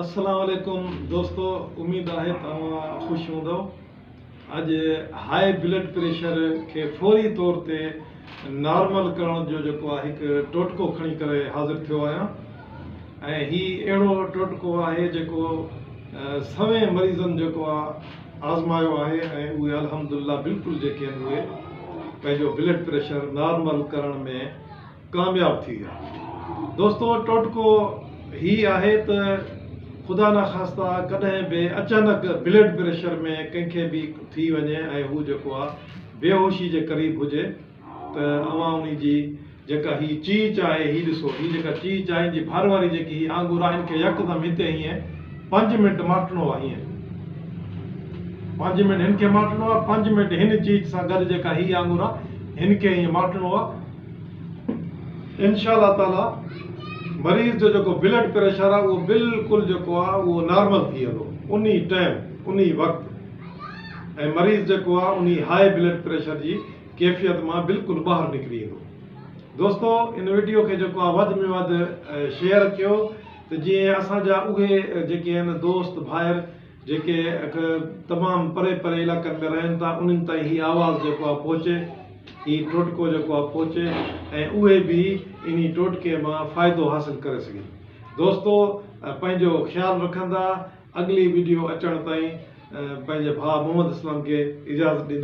السلام عليڪم دوستو اميد آهي ته اوهان خوش هوندؤ اڄ هاء بلڊ پريشر کي فوري طور تي نارمل ڪرڻ جو جيڪو آهي هڪ ٽوٽڪو کڻي ڪري حاضر ٿيو آهيان ۽ هي اهڙو ٽوٽڪو آهي جيڪو سوين مريضن جيڪو آهي آزمايو آهي ۽ اهي الحمد لله بلڪل جيڪي آهن اهي پنهنجو بلڊ پريشر نارمل ڪرڻ ۾ ڪامياب ٿي ويا دوستو ٽوٽڪو هي آهي ته خدا نخواسته ڪڏهن به اچانڪ بلڊ پريشر ۾ ڪنهن کي به ٿي وڃي ۽ هو جيڪو آهي بيهوشي جي قريب هجي ته اوهان انهي جي جيڪا هي چيچ آهي هي ڏسو هي جيڪا چيچ آهي ان جي ڀر واري جيڪي هي آنگور آهن ان کي يڪدم هتي هيئن پنج منٽ ماٽڻو آهي هيئن پنج منٽ هن کي ماٽڻو آهي پنج منٽ هن چيچ سان گڏ جيڪا هي آنگور آهي هن کي هيئن ماٽڻو آهي انشاء الله تعالي مريض جو جيڪو بلڊ پريشر آهي اهو بلڪل جيڪو آهي اهو نارمل ٿي ويندو انهي ٽائيم انهي وقت ۽ مريض جيڪو آهي انهي هاء بلڊ پريشر جي ڪيفيت مان بلڪل ٻاهر نڪري ويندو دوستو ان وڊيو کي جيڪو آهي وڌ ۾ وڌ شيئر ڪيو ته جيئن اسان جا اهي جيڪي آهن دوست ڀائر جيڪي اک تمام پري پري علائقن ۾ رهن ٿا انهن تائين هي آواز جيڪو آهي پهچي هي ٽوٽڪو جيڪو آهي پهچي ۽ اهي به انهي ٽوٽڪي مان فائدو حاصل ڪري سگهن دوستو پنهنجو خيال رکندا اڳلي ويڊيو اچڻ تائين پنهنجي ڀاء محمد اسلم کي اجازت ڏيندا.